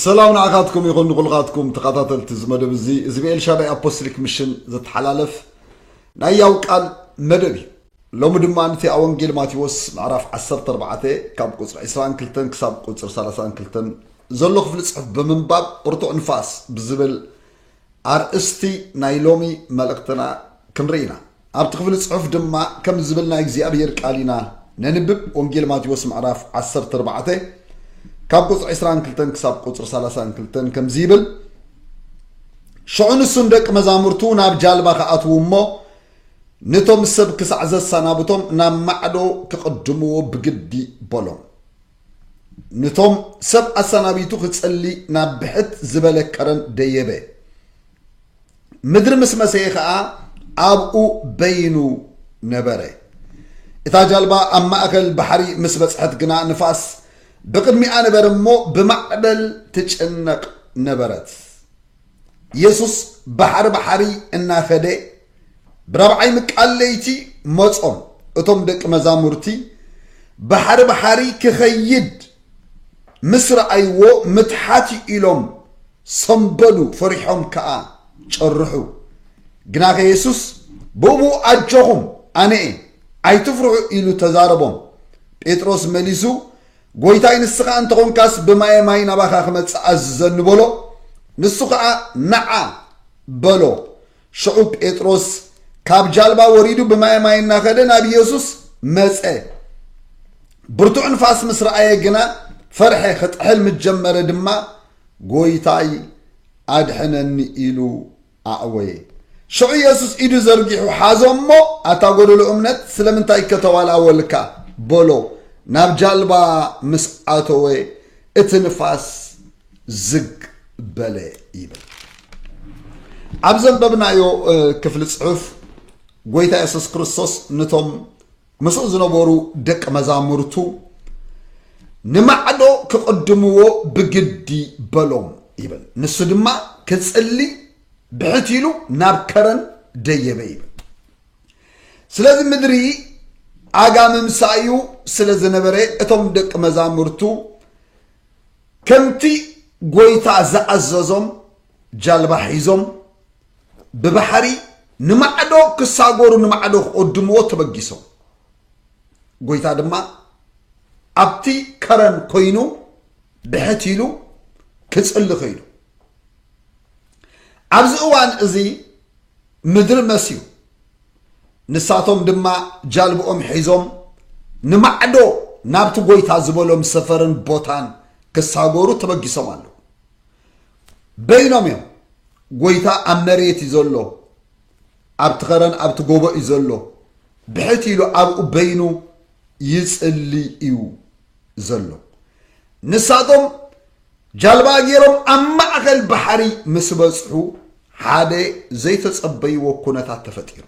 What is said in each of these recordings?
ሰላም ንዓኻትኩም ይኹን ንኹልኻትኩም ተኸታተልቲ እዚ መደብ እዚ እዚ ብኤልሻዳይ ኣፖስትሊክ ምሽን ዘተሓላለፍ ናይ ያው ቃል መደብ እዩ ሎሚ ድማ ንቲ ኣብ ወንጌል ማቴዎስ ምዕራፍ 14 ካብ ቁፅሪ 22 ክሳብ ቁፅሪ 32 ዘሎ ክፍሊ ፅሑፍ ብምንባብ ብርቱዕ ንፋስ ብዝብል ኣርእስቲ ናይ ሎሚ መልእኽትና ክንርኢ ኢና። ኣብቲ ክፍሊ ጽሑፍ ድማ ከምዚ ዝብል ናይ እግዚኣብሄር ቃል ኢና ነንብብ፣ ወንጌል ማቴዎስ ምዕራፍ ዓሰርተ ኣርባዕተ ካብ ቁጽሪ ዕስራን ክልተን ክሳብ ቁጽሪ ሰላሳን ክልተን ከምዚ ይብል ሽዑ ንሱን ደቂ መዛሙርቱ ናብ ጃልባ ክኣትዉ እሞ ነቶም ሰብ ክሳዕ ዘሰናብቶም ናብ ማዕዶ ክቕድምዎ ብግዲ በሎም። ንቶም ሰብ ኣሰናቢቱ ክጽሊ ናብ ብሕት ዝበለ ከረን ደየበ። ምድሪ ምስ መሰየ ከኣ ኣብኡ በይኑ ነበረ። እታ ጃልባ ኣብ ማእከል ባሕሪ ምስ በጽሐት ግና ንፋስ ብቕድሚኣ ነበረ እሞ ብማዕበል ትጭነቕ ነበረት። ኢየሱስ ባሕሪ ባሕሪ እናኸደ ብራብዓይ ምቃል ለይቲ መጾም እቶም ደቂ መዛሙርቲ ባሕሪ ባሕሪ ክኸይድ ምስ ረኣይዎ ምትሓት እዩ ኢሎም ሰምበሉ ፈሪሖም ከኣ ጨርሑ ግናኸ ኢየሱስ ብእኡ ኣጆኹም ኣነ እየ ኣይትፍርሑ ኢሉ ተዛረቦም ጴጥሮስ መሊሱ ጐይታይ ንስኻ እንተ ዀንካስ ብማየ ማይ ናባኻ ክመጽእ ኣዝዘኒ በሎ። ንሱ ኸኣ ነዓ በሎ። ሽዑ ጴጥሮስ ካብ ጃልባ ወሪዱ ብማየ ማይ እናኸደ ናብ ኢየሱስ መጸ። ብርቱዕ ንፋስ ምስ ረኣየ ግና ፈርሐ፣ ክጥሕል ምስ ጀመረ ድማ ጐይታይ ኣድሕነኒ ኢሉ ኣእወየ። ሽዑ የሱስ ኢዱ ዘርጊሑ ሓዞ እሞ፣ ኣታ ጐደሎ እምነት፣ ስለምንታይ ከተዋልኣወልካ? በሎ። ናብ ጃልባ ምስ ኣተወ፣ እቲ ንፋስ ዝግ በለ ይብል። ኣብ ዘንበብናዮ ክፍሊ ጽሑፍ፣ ጐይታ የሱስ ክርስቶስ ነቶም ምስኡ ዝነበሩ ደቂ መዛሙርቱ ንማዕዶ ክቕድምዎ ብግዲ በሎም ይብል። ንሱ ድማ ክጽሊ ብሕት ኢሉ ናብ ከረን ደየበ ይብል። ስለዚ ምድሪ ኣጋምምሳ እዩ ስለ ዝነበረ እቶም ደቂ መዛሙርቱ ከምቲ ጎይታ ዝኣዘዞም ጃልባ ሒዞም ብባሕሪ ንማዕዶ ክሳጎሩ ንማዕዶ ክቕድምዎ ተበጊሶም ጎይታ ድማ ኣብቲ ከረን ኮይኑ ብሕት ኢሉ ክፅሊ ከይዱ ኣብዚ እዋን እዚ ምድሪ መስዩ ንሳቶም ድማ ጃልብኦም ሒዞም ንማዕዶ ናብቲ ጎይታ ዝበሎም ሰፈርን ቦታን ክሳጎሩ ተበጊሶም ኣለዉ በይኖም እዮም ጎይታ ኣብ መሬት እዩ ዘሎ ኣብቲ ኸረን ኣብቲ ጎቦ እዩ ዘሎ ብሕት ኢሉ ኣብኡ በይኑ ይጽሊ እዩ ዘሎ ንሳቶም ጃልባ ገይሮም ኣብ ማእኸል ባሕሪ ምስ በጽሑ ሓደ ዘይተጸበይዎ ኩነታት ተፈጢሩ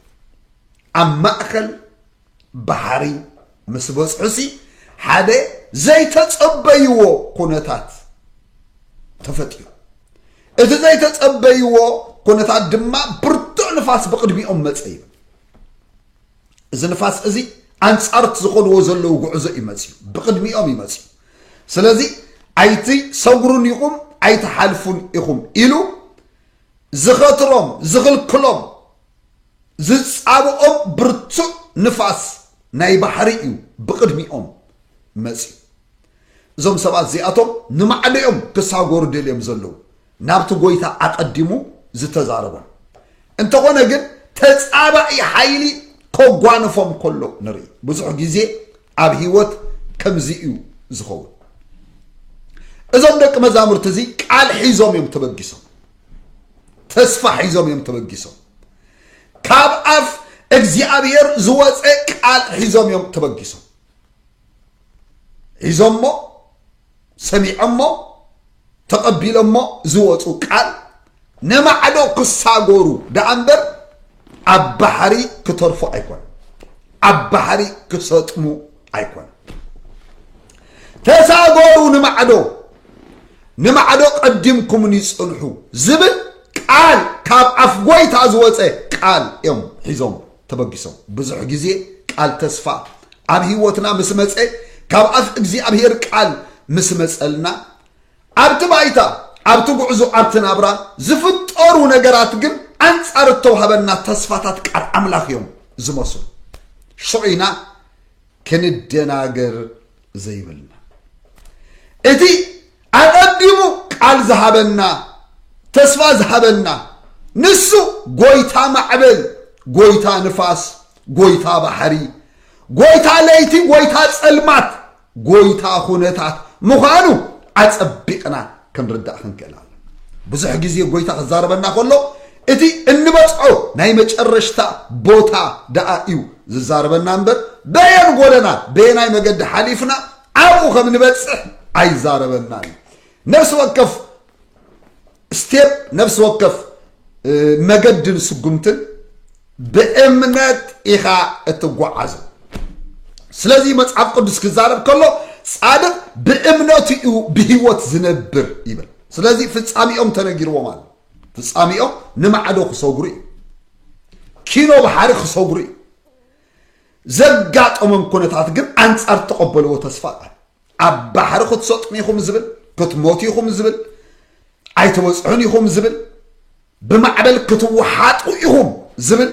ኣብ ማእኸል ባሕሪ ምስ በጽሑሲ ሓደ ዘይተጸበይዎ ኩነታት ተፈጢሩ። እቲ ዘይተጸበይዎ ኩነታት ድማ ብርቱዕ ንፋስ ብቕድሚኦም መጸ ይብል። እዚ ንፋስ እዚ ኣንጻርት ዝኾንዎ ዘለዉ ጉዕዞ እዩ መፅዩ ብቅድሚኦም እዩ መፅዩ ስለዚ ኣይቲ ሰጉሩን ኢኹም ኣይትሓልፉን ኢኹም ኢሉ ዝኸትሮም ዝኽልክሎም ዝጻብኦም ብርቱዕ ንፋስ ናይ ባሕሪ እዩ ብቕድሚኦም መጺኡ። እዞም ሰባት እዚኣቶም ንማዕዶ እዮም ክሳጎሩ ደልዮም ዘለዉ ናብቲ ጎይታ ኣቐዲሙ ዝተዛረቦም። እንተኾነ ግን ተጻባኢ ሓይሊ ከጓንፎም ከሎ ንርኢ። ብዙሕ ግዜ ኣብ ህይወት ከምዚ እዩ ዝኸውን። እዞም ደቂ መዛሙርቲ እዚ ቃል ሒዞም እዮም ተበጊሶም። ተስፋ ሒዞም እዮም ተበጊሶም ካብ ኣፍ እግዚኣብሔር ዝወፀ ቃል ሒዞም እዮም ተበጊሶም ሒዞሞ ሰሚዖሞ ተቐቢሎሞ ዝወፁ ቃል ንማዕዶ ክሳጎሩ ደኣ እምበር ኣብ ባሕሪ ክተርፉ ኣይኮነ ኣብ ባሕሪ ክሰጥሙ ኣይኮነ ተሳጎሩ ንማዕዶ ንማዕዶ ቀዲምኩምኒ ጽንሑ ዝብል ቃል ካብ ኣፍ ጎይታ ዝወፀ ቃል እዮም ሒዞም ተበጊሶም ብዙሕ ግዜ ቃል ተስፋ ኣብ ህይወትና ምስ መፀ ካብ ኣፍ እግዚኣብሄር ቃል ምስ መፀልና ኣብቲ ባይታ፣ ኣብቲ ጉዕዞ፣ ኣብቲ ናብራ ዝፍጠሩ ነገራት ግን ኣንጻር እተዋህበና ተስፋታት ቃል ኣምላኽ እዮም ዝመስሉ። ሽዑ ኢና ክንደናገር ዘይብልና። እቲ ኣቐዲሙ ቃል ዝሃበና፣ ተስፋ ዝሃበና፣ ንሱ ጎይታ ማዕበል፣ ጎይታ ንፋስ፣ ጎይታ ባሕሪ፣ ጎይታ ለይቲ፣ ጎይታ ጸልማት፣ ጎይታ ኩነታት ምዃኑ ኣጸቢቕና ክንርዳእ ክንክእል ኣለና። ብዙሕ ግዜ ጎይታ ክዛረበና ከሎ እቲ እንበጽዖ ናይ መጨረሽታ ቦታ ደኣ እዩ ዝዛረበና እምበር በየን ጎደና በየናይ መገዲ ሓሊፍና ኣብኡ ከም ንበጽሕ ኣይዛረበና እዩ። ነፍሲ ወከፍ ስቴፕ ነፍሲ ወከፍ መገድን ስጉምትን ብእምነት ኢኻ እትጓዓዞ ስለዚ መጽሓፍ ቅዱስ ክዛረብ ከሎ ጻድቅ ብእምነቱ እዩ ብህይወት ዝነብር ይብል ስለዚ ፍጻሜኦም ተነጊርዎም ኣሎ ፍጻሜኦም ንማዕዶ ክሰጉሩ እዩ ኪኖ ባሕሪ ክሰጉሩ እዩ ዘጋጠሞም ኩነታት ግን ኣንጻር ተቐበልዎ ተስፋ ቃል ኣብ ባሕሪ ክትሰጥሙ ኢኹም ዝብል ክትሞቱ ኢኹም ዝብል ኣይተበፅሑን ኢኹም ዝብል ብማዕበል ክትወሓጡ ኢኹም ዝብል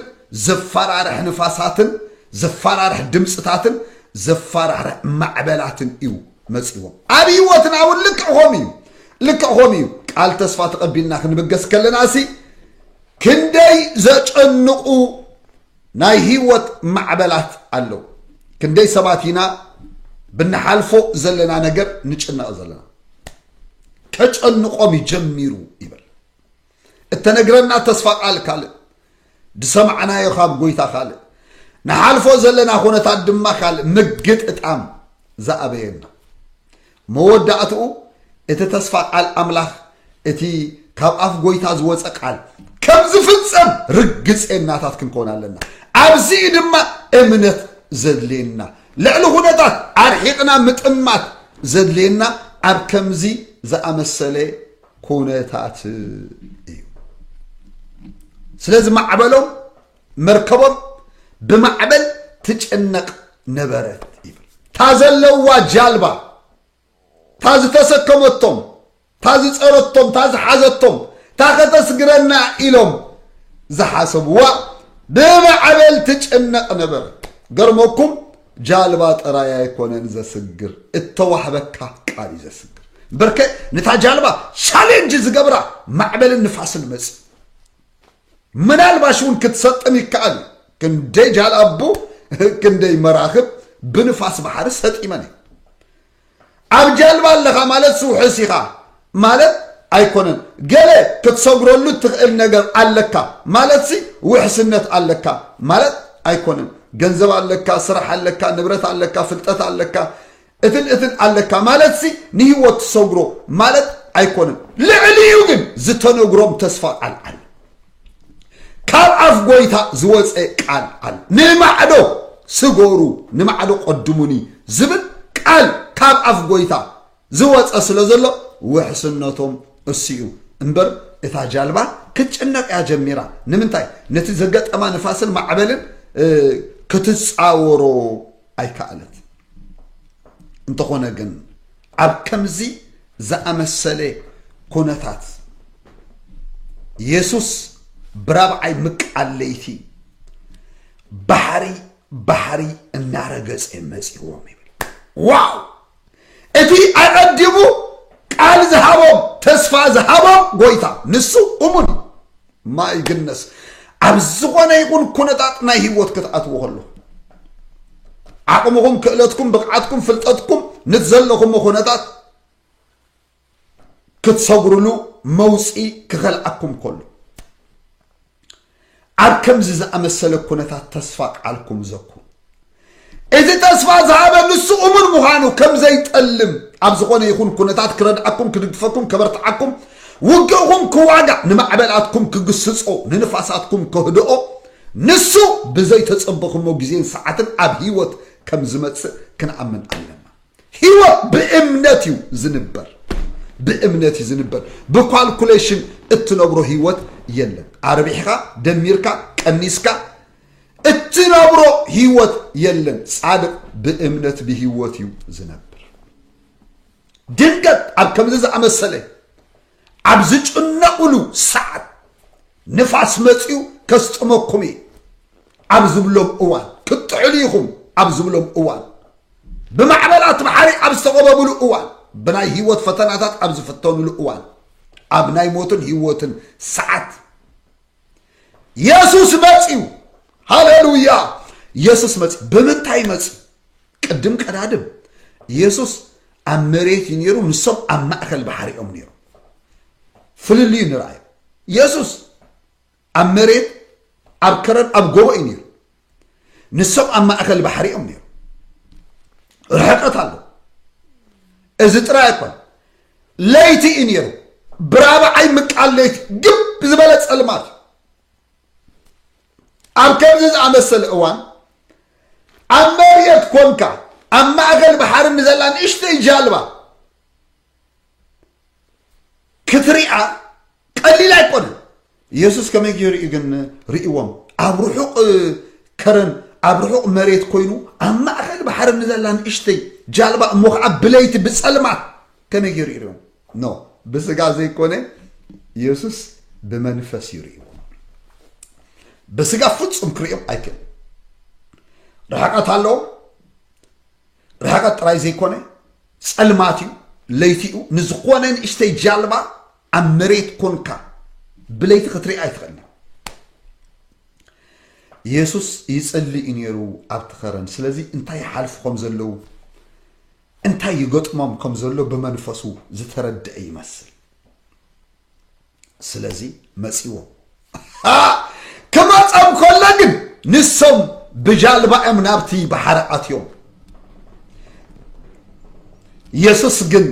ዘፈራርሕ ንፋሳትን ዘፈራርሕ ድምፅታትን ዘፈራርሕ ማዕበላትን እዩ መፂዎም ኣብ ህይወትና እውን ልክዕ ከምኡ እዩ ልክዕ ከምኡ እዩ ቃል ተስፋ ተቐቢልና ክንብገስ ከለና ሲ ክንደይ ዘጨንቑ ናይ ህይወት ማዕበላት ኣለው። ክንደይ ሰባት ኢና ብንሓልፎ ዘለና ነገር ንጭነቕ ዘለና። ከጨንቆም እዩ ጀሚሩ ይብል። እተነግረና ተስፋ ቃል ካልእ፣ ዝሰማዕናዮ ካብ ጎይታ ካልእ፣ ንሓልፎ ዘለና ኩነታት ድማ ካልእ ምግጥጣም ዝኣበየና መወዳእትኡ እቲ ተስፋ ቃል ኣምላኽ እቲ ካብ ኣፍ ጎይታ ዝወፀ ቃል ከም ዝፍፀም ርግፀናታት ክንኮን ኣለና ኣብዚ እዩ ድማ እምነት ዘድልየና ልዕሊ ኩነታት ኣርሒቕና ምጥማት ዘድልየና ኣብ ከምዚ ዝኣመሰለ ኩነታት እዩ ስለዚ ማዕበሎም መርከቦም ብማዕበል ትጭነቕ ነበረት ይብል እታ ዘለዋ ጃልባ እታ ዝተሰከመቶም እታ ዝፀረቶም እታ ዝሓዘቶም እታ ከተስግረና ኢሎም ዝሓሰብዋ ብማዕበል ትጭነቕ ነበረት ገርመኩም ጃልባ ጥራይ ኣይኮነን ዘስግር እተዋህበካ ቃል እዩ ዘስግር እምበርከ ነታ ጃልባ ቻሌንጅ ዝገብራ ማዕበልን ንፋስን መፅ ምናልባሽ እውን ክትሰጥም ይከኣል እዩ። ክንደይ ጃልኣቦ ክንደይ መራኽብ ብንፋስ ባሕሪ ሰጢመን እዩ። ኣብ ጃልባ ኣለኻ ማለት ስውሕስ ኢኻ ማለት ኣይኮነን። ገለ ክትሰግረሉ እትኽእል ነገር ኣለካ ማለትሲ ውሕስነት ኣለካ ማለት ኣይኮነን። ገንዘብ ኣለካ፣ ስራሕ ኣለካ፣ ንብረት ኣለካ፣ ፍልጠት ኣለካ፣ እትን እትን ኣለካ ማለትሲ ንህይወት ትሰግሮ ማለት ኣይኮነን። ልዕሊኡ ግን ዝተነግሮም ተስፋ ቃል ኣለ። ካብ ኣፍ ጎይታ ዝወፀ ቃል ኣለ። ንማዕዶ ስገሩ ንማዕዶ ቀድሙኒ ዝብል ቃል ካብ ኣፍ ጎይታ ዝወፀ ስለ ዘሎ ውሕስነቶም እሱ እዩ እምበር እታ ጃልባ ክትጭነቅ እያ ጀሚራ ንምንታይ ነቲ ዘገጠማ ንፋስን ማዕበልን ክትፃወሮ ኣይከኣለት እንተኾነ ግን ኣብ ከምዚ ዝኣመሰለ ኩነታት የሱስ ብራብዓይ ምቃል ለይቲ ባሕሪ ባሕሪ እናረገጸ መጺዎም ይብል ዋው እቲ ኣቐዲሙ ቃል ዝሃቦም ተስፋ ዝሃቦም ጎይታ ንሱ እሙን እዩ ማይ ግነስ ኣብ ዝኾነ ይኹን ኩነታት ናይ ህይወት ክትኣትዎ ከሎ ዓቕምኹም ክእለትኩም ብቕዓትኩም ፍልጠትኩም ነት ዘለኹም ኩነታት ክትሰጉርሉ መውፅኢ ክኸልዓኩም ከሎ ኣብ ከምዚ ዝኣመሰለ ኩነታት ተስፋ ቃልኩም ዘኩ እዚ ተስፋ ዝሃበ ንሱ እሙን ምዃኑ ከም ዘይጠልም ኣብ ዝኾነ ይኹን ኩነታት ክረድኣኩም ክድግፈኩም ከበርትዓኩም ውግእኹም ክዋጋእ ንማዕበላትኩም ክግስጾ ንንፋሳትኩም ከህድኦ ንሱ ብዘይተጸበኹሞ ግዜን ሰዓትን ኣብ ህይወት ከም ዝመጽእ ክንኣምን ኣለና ህይወት ብእምነት እዩ ዝንበር ብእምነት እዩ ዝንበር ብኳልኩሌሽን እትነብሮ ህይወት የለን ኣርቢሕካ ደሚርካ ቀኒስካ እትነብሮ ህይወት የለን። ጻድቕ ብእምነት ብህይወት እዩ ዝነብር። ድንገት ኣብ ከምዚ ዝኣመሰለ ኣብ ዝጭነቕሉ ሰዓት ንፋስ መፅኡ ከስጥመኩም እዩ ኣብ ዝብሎም እዋን ክትጥሕሉ ኢኹም ኣብ ዝብሎም እዋን ብማዕበላት ባሕሪ ኣብ ዝተቐበብሉ እዋን ብናይ ህይወት ፈተናታት ኣብ ዝፍተኑሉ እዋን ኣብ ናይ ሞትን ህይወትን ሰዓት የሱስ መጽዩ ሃሌሉያ የሱስ መጽ ብምንታይ መጽ ቅድም ቀዳድም የሱስ ኣብ መሬት እዩ ነይሩ ንሶም ኣብ ማእከል ባሕሪ እዮም ነይሩ ፍልልዩ ንርኣዩ የሱስ ኣብ መሬት ኣብ ከረን ኣብ ጎቦ እዩ ነይሩ ንሶም ኣብ ማእከል ባሕሪ እዮም ነይሩ ርሕቀት ኣሎ እዚ ጥራይ ኣይኮን ለይቲ እዩ ነይሩ ብራብዓይ ምቃል ለይቲ ግብ ዝበለ ፀልማት እዩ ኣብ ከምዚ ዝኣመሰለ እዋን ኣብ መርየት ኮንካ ኣብ ማእከል ባሕሪ ንዘላ ንእሽተይ ጃልባ ክትሪኣ ቀሊል ኣይኮነ የሱስ ከመይ ገይሩ እዩ ግን ርእዎም ኣብ ርሑቕ ከረን ኣብ ርሑቕ መሬት ኮይኑ ኣብ ማእኸል ባሕሪ ንዘላ ንእሽተይ ጃልባ እሞ ከዓ ብለይቲ ብፀልማት ከመይ ገይሩ እዩ ርእዎም ኖ ብስጋ ዘይኮነ የሱስ ብመንፈስ እዩ ርእዎ ብስጋ ፍፁም ክርእዮም ኣይክእል ርሕቀት ኣለዎም ርሕቐት ጥራይ ዘይኮነ ጸልማት እዩ ለይቲ እዩ ንዝኾነ ንእሽተይ ጃልባ ኣብ መሬት ኮንካ ብለይቲ ክትርኢ ኣይትኽእልን የሱስ ይጽሊ እዩ ነይሩ ኣብቲ ኸረን ስለዚ እንታይ ይሓልፉ ከም ዘለዉ እንታይ ይገጥሞም ከም ዘሎ ብመንፈሱ ዝተረድአ ይመስል ስለዚ መጺዎም ክመጸም ከሎ ግን ንሶም ብጃልባ እዮም ናብቲ ባሕሪ ኣትዮም የሱስ ግን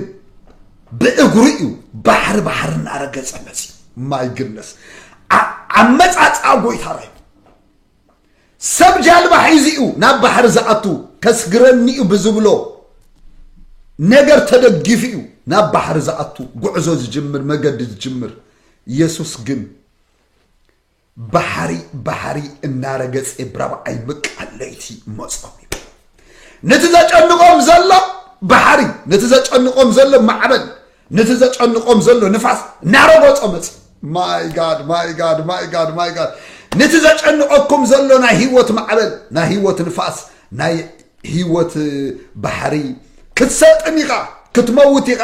ብእግሩ እዩ ባሕሪ ባሕሪ እናረገጸ መጺ ማይ ግነስ ኣመጻጽኣ ጎይታ ራይ ሰብ ጃልባ ሒዙ'ዩ ናብ ባሕሪ ዝኣቱ ከስግረኒ'ዩ ብዝብሎ ነገር ተደጊፉ'ዩ ናብ ባሕሪ ዝኣቱ ጉዕዞ ዝጅምር መገዲ ዝጅምር የሱስ ግን ባሕሪ ባሕሪ እናረገጸ ብራብዓይ ምቃል ለይቲ መጾም እዩ ነቲ ዘጨንቆም ዘሎ ባሕሪ ነቲ ዘጨንቆም ዘሎ ማዕበል ነቲ ዘጨንቆም ዘሎ ንፋስ እናረጎጾ መጽ ማይ ጋድ ማይ ጋድ ማይ ጋድ ማይ ጋድ ነቲ ዘጨንቀኩም ዘሎ ናይ ህይወት ማዕበል ናይ ህይወት ንፋስ ናይ ህይወት ባሕሪ ክትሰጥም ኢኻ ክትመውት ኢኻ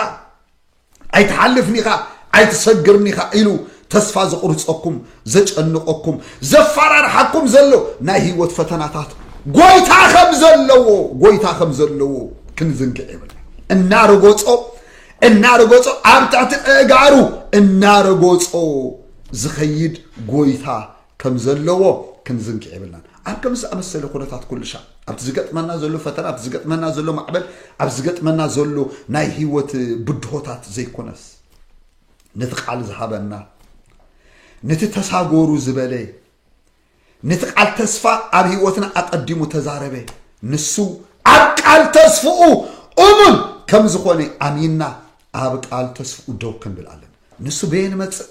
ኣይትሓልፍን ኢኻ ኣይትሰግርን ኢኻ ኢሉ ተስፋ ዘቑርፀኩም ዘጨንቐኩም ዘፋራርሓኩም ዘሎ ናይ ህይወት ፈተናታት ጎይታ ከም ዘለዎ ጎይታ ከም ዘለዎ ክንዝንግዕ የብልና እናረጎጾ እናረጎጾ ኣብ ትሕቲ እእጋሩ እናረጎጾ ዝኸይድ ጎይታ ከም ዘለዎ ክንዝንግዕ የብልናን ኣብ ከም ዝኣመሰለ ኩነታት ኩልሻ ኣብቲ ዝገጥመና ዘሎ ፈተና ኣብቲ ዝገጥመና ዘሎ ማዕበል ኣብ ዝገጥመና ዘሎ ናይ ህይወት ብድሆታት ዘይኮነስ ነቲ ቃል ዝሃበና ነቲ ተሳጎሩ ዝበለ ነቲ ቃል ተስፋ ኣብ ህይወትና ኣቐዲሙ ተዛረበ ንሱ ኣብ ቃል ተስፍኡ እሙን ከም ዝኾነ ኣሚንና ኣብ ቃል ተስፍኡ ደው ክንብል ኣለና ንሱ በየን መፅእ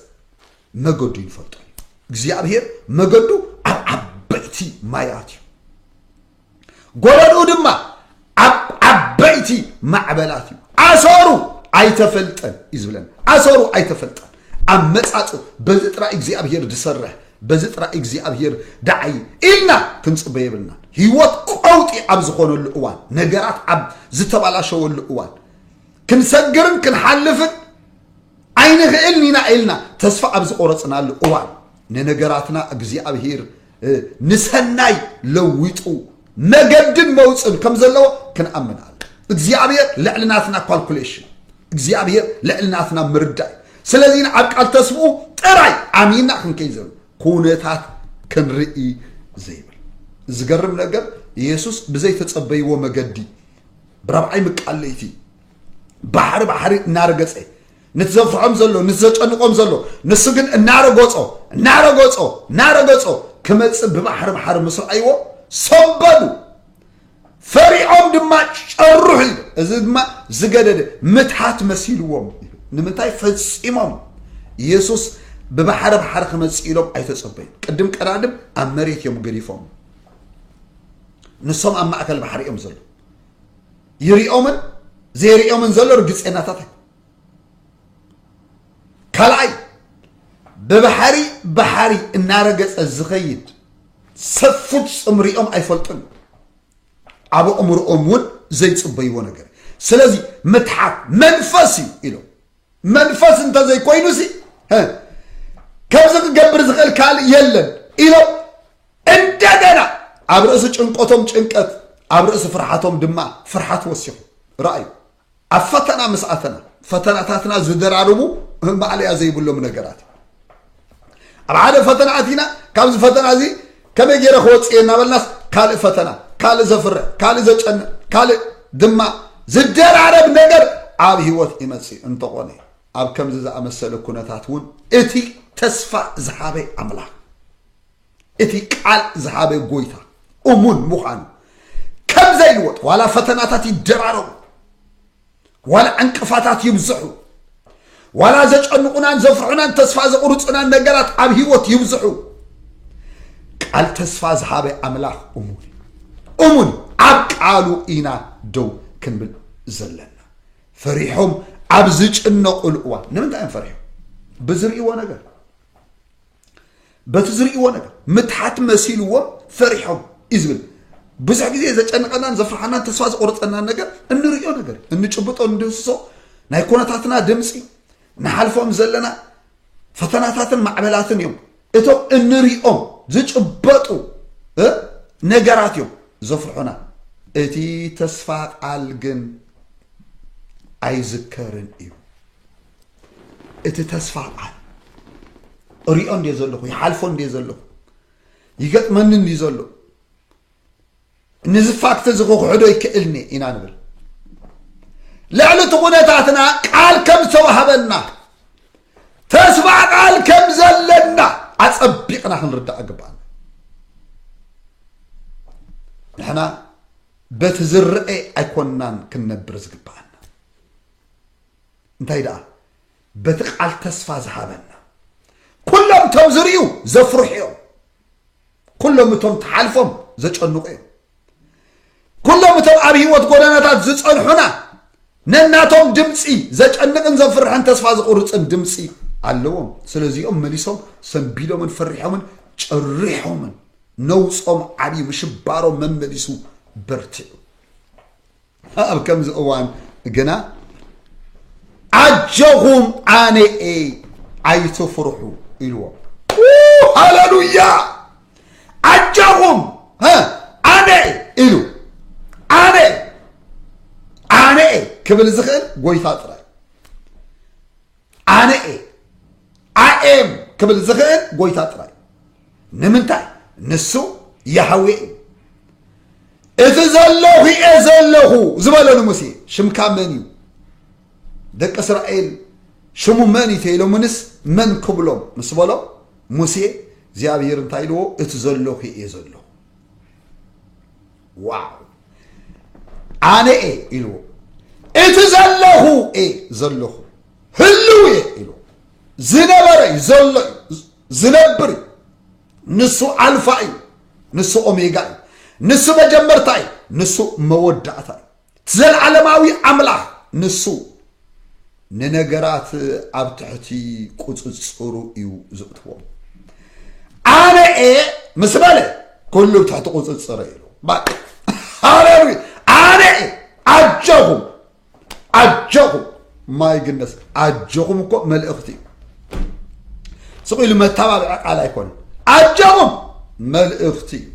መገዱ ይንፈልጦ እዩ እግዚኣብሄር መገዱ ኣብ ዓበይቲ ማያት እዩ ጎለድኡ ድማ ኣብ ዓበይቲ ማዕበላት እዩ ኣሰሩ ኣይተፈልጠን እዩ ዝብለን ኣሰሩ ኣይተፈልጠን ኣብ መጻጹ በዚ ጥራይ እግዚኣብሄር ዝሰርሕ በዚ ጥራይ እግዚኣብሄር ደዓይ ኢልና ክንጽበ የብልና ህይወት ቀውጢ ኣብ ዝኾነሉ እዋን ነገራት ኣብ ዝተባላሸወሉ እዋን ክንሰግርን ክንሓልፍን ኣይንኽእልን ኢና ኢልና ተስፋ ኣብ ዝቆረጽናሉ እዋን ንነገራትና እግዚኣብሄር ንሰናይ ለዊጡ መገድን መውፅን ከም ዘለዎ ክንኣምን ኣለ እግዚኣብሔር ልዕሊ ናትና ኳልኩሌሽን እግዚኣብሔር ልዕሊ ናትና ምርዳይ ስለዚ ኣብ ቃል ተስፍኡ ጥራይ ኣሚና ክንከይ ዘሉ ኩነታት ክንርኢ ዘይብል ዝገርም ነገር ኢየሱስ ብዘይተጸበይዎ መገዲ ብራብዓይ ምቃለይቲ ባሕሪ ባሕሪ እናረገጸ ንቲ ዘንፍሖም ዘሎ ንቲ ዘጨንቆም ዘሎ ንሱ ግን እናረጎጾ እናረጎጾ እናረገጾ ክመጽእ ብባሕሪ ባሕሪ ምስ ረኣይዎ ሰበሉ ፈሪዖም ድማ ጨርሑ ኢሉ እዚ ድማ ዝገደደ ምትሃት መሲልዎም ኢሉ ንምንታይ ፈጺሞም ኢየሱስ ብባሕሪ ባሕሪ ክመጽእ ኢሎም ኣይተጸበዩ ቅድም ቀዳድም ኣብ መሬት እዮም ገዲፎም ንሶም ኣብ ማእከል ባሕሪ እዮም ዘሎ ይሪኦምን ዘይሪኦምን ዘሎ ርግፀናታት ኣይኮ ካልኣይ ብባሕሪ ባሕሪ እናረገፀ ዝኸይድ ሰፉት ፅምሪኦም ኣይፈልጡን ኣብ ኣእምሮኦም እውን ዘይፅበይዎ ነገር ስለዚ ምትሓት መንፈስ እዩ ኢሎም መንፈስ እንተዘይኮይኑሲ እ፣ ከምዚ ክገብር ዝኽእል ካልእ የለን ኢሎም እንደገና ኣብ ርእሲ ጭንቀቶም ጭንቀት ኣብ ርእሲ ፍርሓቶም ድማ ፍርሓት ወሲኹ ረኣዩ ኣብ ፈተና ምስ ኣተና ፈተናታትና ዝደራርቡ ማእለያ ዘይብሎም ነገራት እዩ። ኣብ ሓደ ፈተና ኣቲና ካብዚ ፈተና እዚ ከመይ ገይረ ክወፅእ እየ እናበልናስ ካልእ ፈተና ካልእ ዘፍረ ካልእ ዘጨንቕ ካልእ ድማ ዝደራረብ ነገር ኣብ ህይወት ይመፅእ እንተኾነ ኣብ ከምዚ ዝኣመሰለ ኩነታት እውን እቲ ተስፋ ዝሃበ ኣምላኽ እቲ ቃል ዝሃበ ጎይታ እሙን ምዃኑ ከም ዘይልወጥ ዋላ ፈተናታት ይደራረቡ ዋላ ዕንቅፋታት ይብዝሑ፣ ዋላ ዘጨንቑናን ዘፍርሑናን ተስፋ ዘቑርፁናን ነገራት ኣብ ህይወት ይብዝሑ፣ ቃል ተስፋ ዝሃበ ኣምላኽ እሙን እሙን ኣብ ቃሉ ኢና ደው ክንብል ዘለና። ፈሪሖም ኣብ ዝጭነቑሉ እዋን ንምንታይ እዮም ፈሪሖም? ብዝርእይዎ ነገር በቲ ዝርእይዎ ነገር ምትሓት መሲልዎም ፈሪሖም እዩ ዝብል ብዙሕ ግዜ ዘጨንቐናን ዘፍርሓናን ተስፋ ዘቑርፀናን ነገር እንርእዮ ነገር እንጭብጦ እንድህስሶ ናይ ኩነታትና ድምፂ ንሓልፎም ዘለና ፈተናታትን ማዕበላትን እዮም እቶም እንሪኦም ዝጭበጡ ነገራት እዮም ዘፍርሑና እቲ ተስፋ ቃል ግን ኣይዝከርን እዩ እቲ ተስፋ ቃል እሪኦ እንዲ ዘለኹ ይሓልፎ እንዲ ዘለኹ ይገጥመኒ እንዲ ዘሎ ንዚ ፋክት እዚ ክክሕዶ ይክእልኒ ኢና ንብል ልዕሊ እቲ ኩነታትና ቃል ከም ዝተዋህበና ተስፋ ቃል ከም ዘለና ኣፀቢቕና ክንርዳእ ግባኣና ንሕና በቲ ዝረአ ኣይኮናን ክንነብር ዝግባእ እንታይ ደኣ በቲ ቃል ተስፋ ዝሃበና ኩሎም እቶም ዝርእዩ ዘፍርሑ እዮም ኩሎም እቶም ተሓልፎም ዘጨንቑ እዮም ኩሎም እቶም ኣብ ህይወት ጎደናታት ዝጸንሑና ነናቶም ድምፂ ዘጨንቕን ዘፍርሕን ተስፋ ዝቑርፅን ድምፂ ኣለዎም ስለዚኦም መሊሶም ሰንቢዶምን ፈሪሖምን ጨሪሖምን ነውፆም ዓብዩ ምሽባሮም መመሊሱ በርቲዑ ኣብ ከምዚ እዋን ግና ኣጆኹም ኣነ እየ ኣይትፍርሑ ኢልዎም ሃለሉያ ኣጆኹም ኣነ ኢሉ ኣነ ኣነ ክብል ዝኽእል ጎይታ ጥራይ ኣነ እየ ኣኤም ክብል ዝኽእል ጎይታ ጥራይ ንምንታይ ንሱ ያህዌ እዩ እቲ ዘለኹ እየ ዘለኹ ዝበሎ ንሙሴ ሽምካ መን እዩ ደቂ እስራኤል ሽሙ መን እዩ ተኢሎምንስ መን ክብሎም ምስ በሎ ሙሴ እግዚኣብሄር እንታይ ኢልዎ እቲ ዘለኹ እየ ዘለኹ ዋው ኣነ እየ ኢልዎ እቲ ዘለኹ እየ ዘለኹ ህልው እየ ኢልዎ ዝነበረ እዩ ዘሎ እዩ ዝነብር እዩ ንሱ ኣልፋ እዩ ንሱ ኦሜጋ እዩ ንሱ መጀመርታ እዩ ንሱ መወዳእታ እዩ እቲ ዘለዓለማዊ ኣምላኽ ንሱ ንነገራት ኣብ ትሕቲ ቁጽጽሩ እዩ ዝእትዎም። ኣነ እየ ምስ በለ ኩሉ ብ ትሕቲ ቁጽጽረ ኢሉ ሃሌሉያ ኣነ እየ ኣጀኹም ኣጀኹም ማይ ግነስ ኣጆኹም እኮ መልእኽቲ እዩ ስቕ ኢሉ መተባብዒ ቃል ኣይኮነን ኣጆኹም መልእኽቲ እዩ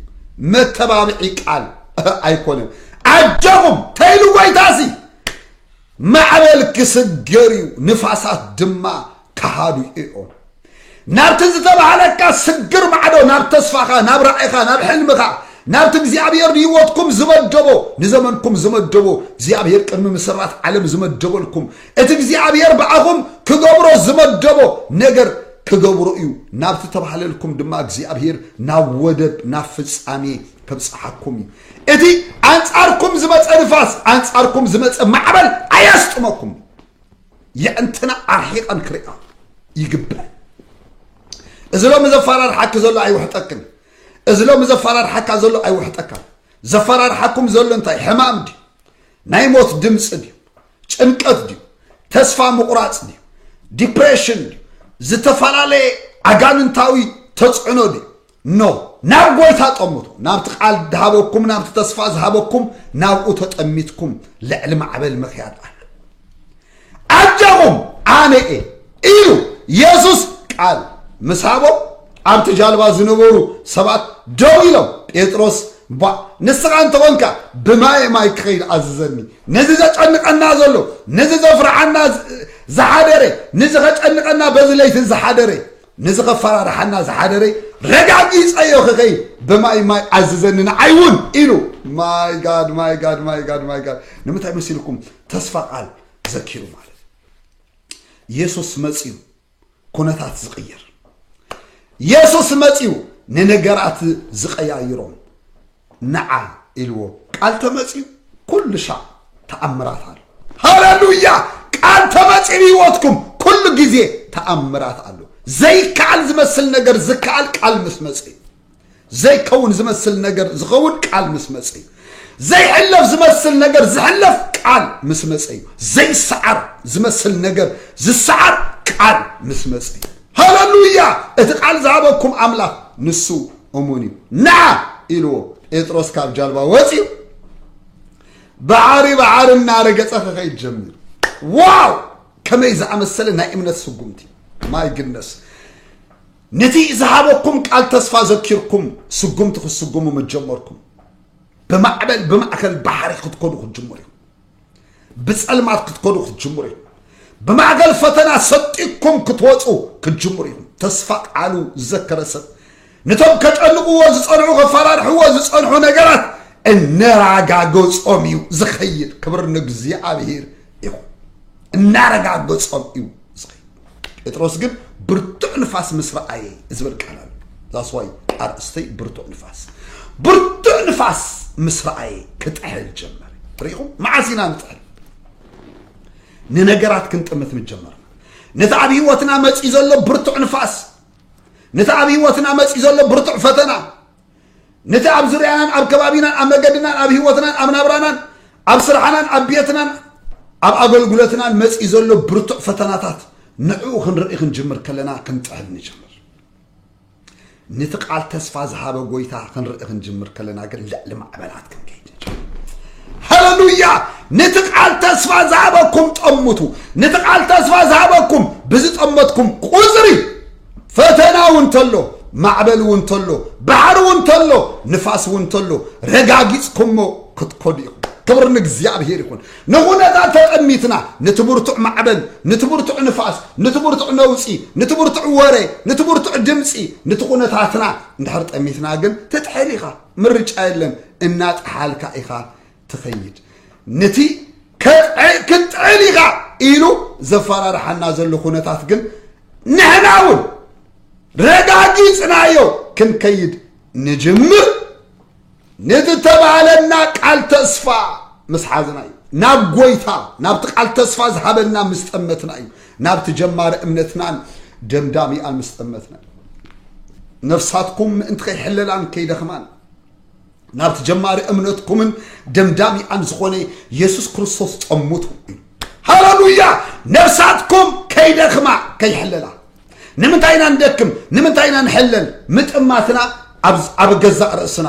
መተባብዒ ቃል ኣይኮነን ኣጆኹም ተይሉ ጎይታሲ ማዕበል ክስገር እዩ ንፋሳት ድማ ከሃዱ እዮም ናብቲ ዝተባህለካ ስግር ማዕዶ ናብ ተስፋኻ ናብ ራዕኻ ናብ ሕልምኻ ናብቲ እግዚኣብሔር ንህይወትኩም ዝመደቦ ንዘመንኩም ዝመደቦ እግዚኣብሔር ቅድሚ ምስራት ዓለም ዝመደበልኩም እቲ እግዚኣብሔር ብኣኹም ክገብሮ ዝመደቦ ነገር ክገብሮ እዩ ናብቲ ተባህለልኩም ድማ እግዚኣብሔር ናብ ወደብ ናብ ፍጻሜ ከብጽሓኩም እዩ እቲ ኣንጻርኩም ዝመፀ ንፋስ ኣንጻርኩም ዝመፀ ማዕበል ኣየስጥመኩም የዕንትና ኣርሒቐን ክሪኣ ይግባእ እዚ ሎሚ ዘፈራርሓኪ ዘሎ ኣይውሕጠክን እዚ ሎሚ ዘፈራርሓካ ዘሎ ኣይውሕጠካን ዘፈራርሓኩም ዘሎ እንታይ ሕማም ድዩ ናይ ሞት ድምፂ ድዩ ጭንቀት ድዩ ተስፋ ምቑራፅ ድዩ ዲፕሬሽን ድዩ ዝተፈላለየ ኣጋንንታዊ ተፅዕኖ ድዩ እኖ፣ ናብ ጐይታ ጠምቱ፣ ናብቲ ቓል ዝሃበኩም፣ ናብቲ ተስፋ ዝሃበኩም፣ ናብኡ ተጠሚትኩም ልዕሊ ማዕበል ምክያድ ኣሎ። ኣጀኹም ኣነ እየ ኢሉ የሱስ ቃል ምስ ሃቦም፣ ኣብቲ ጃልባ ዝነበሩ ሰባት ደው ኢሎም፣ ጴጥሮስ እባ ንስኻ እንተኾንካ ብማየ ማይ ክኸይድ ኣዝዘኒ፣ ነዚ ዘጨንቐና ዘሎ፣ ነዚ ዘፍርሓና ዝሓደረ፣ ነዚ ከጨንቐና በዚ ለይትን ዝሓደረ፣ ነዚ ከፈራርሓና ዝሓደረ ረጋጊፀዮ ክኸይድ ብማይ ማይ ኣዝዘኒ ንዓይ እውን ኢሉ ማይ ጋድ ማይ ጋድ ማይ ጋድ ማይ ጋድ ንምንታይ መሲልኩም ተስፋ ቃል ዘኪሩ ማለት ኢየሱስ መፅዩ ኩነታት ዝቕይር ኢየሱስ መፅዩ ንነገራት ዝቀያይሮም ንዓ ኢልዎ ቃል ተመጽዩ ኩሉ ሻዕ ተኣምራት ኣሎ ሃለሉያ ቃል ተመጽዩ ህይወትኩም ኩሉ ግዜ ተኣምራት ኣሎ ዘይከኣል ዝመስል ነገር ዝከኣል ቃል ምስ መጽ እዩ ዘይከውን ዝመስል ነገር ዝኸውን ቃል ምስ መጽ እዩ ዘይሕለፍ ዝመስል ነገር ዝሕለፍ ቃል ምስ መጸ እዩ ዘይሰዓር ዝመስል ነገር ዝሰዓር ቃል ምስ መጸ እዩ ሃለሉያ እቲ ቃል ዝሃበኩም ኣምላኽ ንሱ እሙን እዩ ንዓ ኢልዎ ጴጥሮስ ካብ ጃልባ ወፂኡ ባዓሪ ባዓሪ እናረገፀ ክኸይድ ጀሚሩ ዋው ከመይ ዝኣመሰለ ናይ እምነት ስጉምቲ ማይ ግነስ ነቲ ዝሃበኩም ቃል ተስፋ ዘኪርኩም ስጉምቲ ክትስጉሙ ምጀመርኩም ብማዕበል ብማእከል ባሕሪ ክትኮኑ ክትጅምሩ ብጸልማት ክትከዱ ክትጅምሩ እዩ ብማእገል ፈተና ሰጢኩም ክትወፁ ክትጅምሩ ኢኹም ተስፋ ቃሉ ዝዘከረ ሰብ ነቶም ከጨንቕዎ ዝፀንዑ ከፈራርሕዎ ዝፀንሑ ነገራት እነራጋገፆም እዩ ዝኸይድ ክብር ንእግዚኣብሔር ይኹን እናረጋገፆም እዩ ዝኸይድ ጴጥሮስ ግን ብርቱዕ ንፋስ ምስ ረኣየ ዝብል ቃል ኣሎ ዛስዋይ ኣርእስተይ ብርቱዕ ንፋስ ብርቱዕ ንፋስ ምስ ረኣየ ክጥሕል ጀመረ ርኢኹም መዓስ ኢና ንጥሕል ንነገራት ክንጥምት ምጀመርና ነቲ ኣብ ህይወትና መፂኡ ዘሎ ብርቱዕ ንፋስ ነቲ ኣብ ህይወትና መፂኡ ዘሎ ብርቱዕ ፈተና ነቲ ኣብ ዙርያናን ኣብ ከባቢናን ኣብ መገድናን ኣብ ህይወትናን ኣብ ናብራናን ኣብ ስራሕናን ኣብ ቤትናን ኣብ ኣገልግሎትናን መፂኡ ዘሎ ብርቱዕ ፈተናታት ንዕኡ ክንርኢ ክንጅምር ከለና ክንጥሕል ንጅምር ነቲ ቃል ተስፋ ዝሃበ ጎይታ ክንርኢ ክንጅምር ከለና ግን ልዕሊ ማዕበላት ክንከይድ ንጅምር ሃለሉያ ነቲ ቃል ተስፋ ዝሃበኩም ጠምቱ ነቲ ቃል ተስፋ ዝሃበኩም ብዝጠመትኩም ቁፅሪ ፈተና እውን ተሎ ማዕበል እውን ተሎ ባሕሪ እውን ተሎ ንፋስ እውን ተሎ ረጋጊጽኩሞ ክትኮዱ ኢኹም ክብሪ ንእግዚኣብሄር ይኹን ንኹነታት ተጠሚትና ነቲ ብርቱዕ ማዕበል ነቲ ብርቱዕ ንፋስ ነቲ ብርቱዕ ነውፂ ነቲ ብርቱዕ ወረ ነቲ ብርቱዕ ድምፂ ነቲ ኩነታትና እንድሕር ጠሚትና ግን ትጥሕል ኢኻ ምርጫ የለን እናጠሓልካ ኢኻ ትኸይድ ነቲ ክትጥዕል ኢኻ ኢሉ ዘፈራርሓና ዘሎ ኩነታት ግን ንሕና እውን ረጋጊፅናዮ ክንከይድ ንጅምር ንዝተባሃለና ቃል ተስፋ ምስ ሓዝና እዩ ናብ ጎይታ ናብቲ ቃል ተስፋ ዝሃበና ምስ ጠመትና እዩ ናብቲ ጀማሪ እምነትናን ደምዳሚኣን ምስ ጠመትና እዩ ነፍሳትኩም ምእንቲ ከይሕለላን ከይደኽማን ናብቲ ጀማሪ እምነትኩምን ደምዳሚኣን ዝኾነ የሱስ ክርስቶስ ጸሙቱ እዩ ሃለሉያ ነፍሳትኩም ከይደኽማ ከይሕለላ ንምንታይ ኢና ንደክም ንምንታይ ኢና ንሕለል ምጥማትና ኣብ ገዛእ ርእስና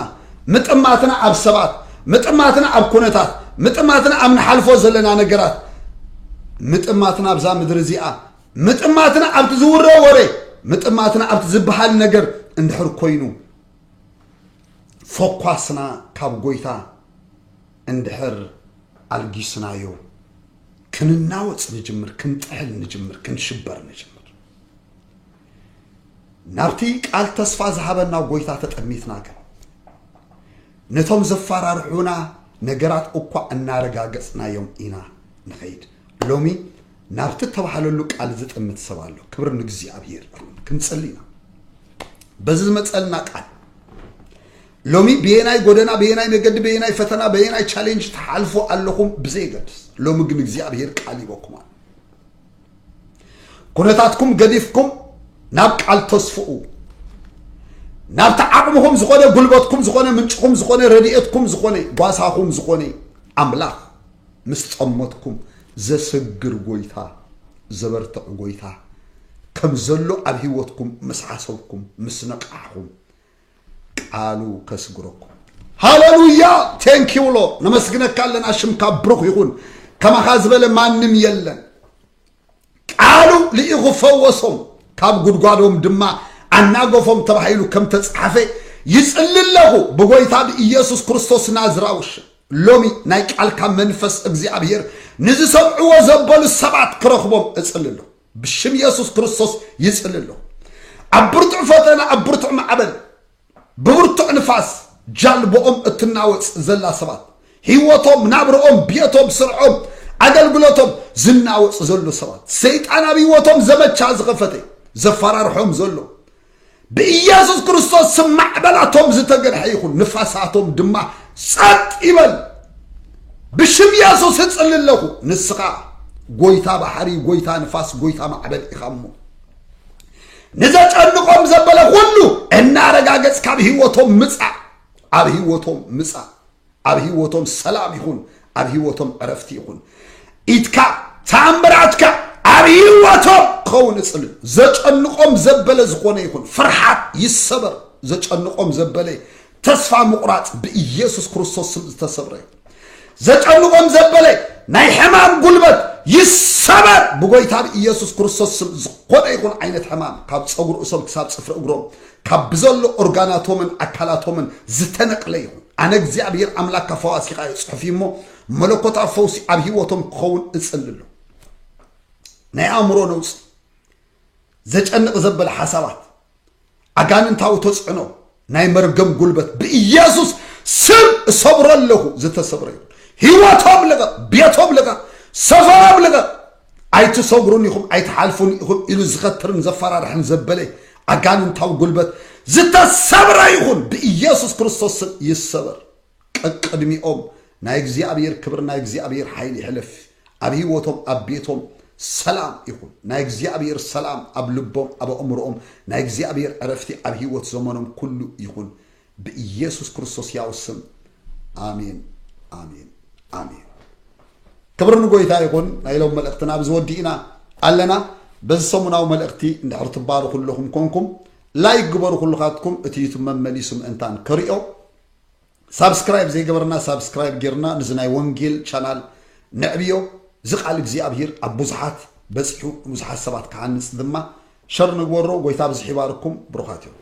ምጥማትና ኣብ ሰባት ምጥማትና ኣብ ኩነታት ምጥማትና ኣብ ንሓልፎ ዘለና ነገራት ምጥማትና ኣብዛ ምድሪ እዚኣ ምጥማትና ኣብቲ ዝውረ ወረ ምጥማትና ኣብቲ ዝበሃል ነገር እንድሕር ኮይኑ ፎኳስና ካብ ጎይታ እንድሕር ኣልጊስናዮ ክንናወጽ ንጅምር፣ ክንጥሕል ንጅምር፣ ክንሽበር ንጅምር። ናብቲ ቃል ተስፋ ዝሃበና ጎይታ ተጠሚትና ግን ነቶም ዘፈራርሑና ነገራት እኳ እናረጋገጽናዮም ኢና ንኸይድ ሎሚ ናብቲ እተባህለሉ ቃል ዝጥምት ሰብ ኣሎ ክብሪ ንእግዚኣብሄር ይኹን ክንጽሊ ኢና በዚ ዝመጸልና ቃል ሎሚ በየናይ ጎደና በየናይ መገዲ በየናይ ፈተና በየናይ ቻሌንጅ ተሓልፎ ኣለኹም ብዘይገድስ ሎሚ ግን እግዚኣብሄር ቃል ይበኩም ኣሎ ኩነታትኩም ገዲፍኩም ናብ ቃል ተስፍኡ ናብቲ ዓቕምኹም ዝኾነ ጉልበትኩም ዝኾነ ምንጭኹም ዝኾነ ረድኤትኩም ዝኾነ ጓሳኹም ዝኾነ ኣምላኽ ምስ ጸመትኩም ዘሰግር ጎይታ ዘበርትዕ ጎይታ ከም ዘሎ ኣብ ህይወትኩም ምስ ሓሰብኩም ምስ ነቃሕኹም ቃሉ ከስግረኩም ሃለሉያ ቴንኪው ሎ ነመስግነካ ኣለና ሽምካ ብሩኽ ይኹን ከማኻ ዝበለ ማንም የለን ቃሉ ልኢኹ ፈወሶም፣ ካብ ጕድጓዶም ድማ ኣናገፎም ተባሂሉ ከም እተጻሕፈ ይጽሊ ኣለኹ፣ ብጐይታ ብኢየሱስ ክርስቶስ ናዝራዊ ሽም። ሎሚ ናይ ቃልካ መንፈስ እግዚኣብሄር ንዝሰምዕዎ ዘበሉ ሰባት ክረኽቦም እጽሊ ኣለኹ። ብሽም የሱስ ክርስቶስ ይጽሊ ኣለኹ። ኣብ ብርቱዕ ፈተና፣ ኣብ ብርቱዕ ማዕበል፣ ብብርቱዕ ንፋስ ጃልቦኦም እትናወጽ ዘላ ሰባት፣ ህይወቶም፣ ናብርኦም፣ ቤቶም፣ ስርሖም፣ ኣገልግሎቶም ዝናወጽ ዘሎ ሰባት፣ ሰይጣን ኣብ ህይወቶም ዘመቻ ዝኸፈተ ዘፈራርሖም ዘሎ ብኢየሱስ ክርስቶስ ስም ማዕበላቶም ዝተገንሐ ይኹን፣ ንፋሳቶም ድማ ጸጥ ይበል። ብሽም ኢየሱስ እጽሊ ኣለኹ። ንስኻ ጎይታ ባሕሪ፣ ጎይታ ንፋስ፣ ጎይታ ማዕበል ኢኻ እሞ ንዘጨንቆም ዘበለ ኩሉ እናረጋገጽ ካብ ህይወቶም ምጻእ ኣብ ህይወቶም ምጻእ ኣብ ህይወቶም ሰላም ይኹን ኣብ ህይወቶም ዕረፍቲ ይኹን ኢትካ ተኣምራትካ ኣብ ህይወቶም ክኸውን እጽል ዘጨንቆም ዘበለ ዝኾነ ይኹን ፍርሓት ይሰበር ዘጨንቆም ዘበለ ተስፋ ምቑራጽ ብኢየሱስ ክርስቶስ ስም ዝተሰብረ እዩ ዘጨንቖም ዘበለ ናይ ሕማም ጉልበት ይሰበር ብጎይታ ብኢየሱስ ክርስቶስ ስም ዝኾነ ይኹን ዓይነት ሕማም ካብ ፀጉሪ እሶም ክሳብ ፅፍሪ እግሮም ካብ ብዘሎ ኦርጋናቶምን ኣካላቶምን ዝተነቅለ ይኹን ኣነ እግዚኣብሔር ኣምላክ ካብ ፈዋሲኻ እዩ ፅሑፍ እዩ እሞ መለኮታዊ ፈውሲ ኣብ ህይወቶም ክኸውን እፅልሎ ናይ ኣእምሮ ነውፂ ዘጨንቕ ዘበለ ሓሳባት ኣጋንንታዊ ተጽዕኖ ናይ መርገም ጉልበት ብኢየሱስ ስም እሰብሮ ኣለኹ ዝተሰብረ ይኹን ህይወቶም ልቐቕ ቤቶም ልቐቕ ሰፈሮም ልቐቕ ኣይትሰጉሩን ኢኹም ኣይትሓልፉን ኢኹም ኢሉ ዝኸትርን ዘፈራርሕን ዘበለ ኣጋንንታዊ ጉልበት ዝተሰብረ ይኹን ብኢየሱስ ክርስቶስ ስም ይሰበር ቀቅድሚኦም ናይ እግዚኣብሔር ክብር ናይ እግዚኣብሔር ሓይል ይሕለፍ ኣብ ህይወቶም ኣብ ቤቶም ሰላም ይኹን ናይ እግዚኣብሔር ሰላም ኣብ ልቦም ኣብ ኣእምሮኦም ናይ እግዚኣብሔር ዕረፍቲ ኣብ ህይወት ዘመኖም ኩሉ ይኹን ብኢየሱስ ክርስቶስ ያው ስም ኣሜን ኣሜን ኣሜን ክብር ንጎይታ ይኹን ናይ ሎም መልእኽትና ኣብዚ ወዲእና ኣለና በዚ ሰሙናዊ መልእኽቲ እንድሕር ትባርኹ ኣለኹም ኮንኩም ላይክ ግበሩ ኩልኻትኩም እቲ ዩቱብ መመሊሱ ምእንታን ክሪኦ ሳብስክራይብ ዘይገበርና ሳብስክራይብ ጌርና ነዚ ናይ ወንጌል ቻናል ነዕብዮ እዚ ቃል እግዚኣብሂር ኣብ ብዙሓት በጺሑ ንብዙሓት ሰባት ክሃንጽ ድማ ሸር ንግበሮ ጎይታ ኣብዚሑ ይባርኩም ብሩኻት ኢኹም።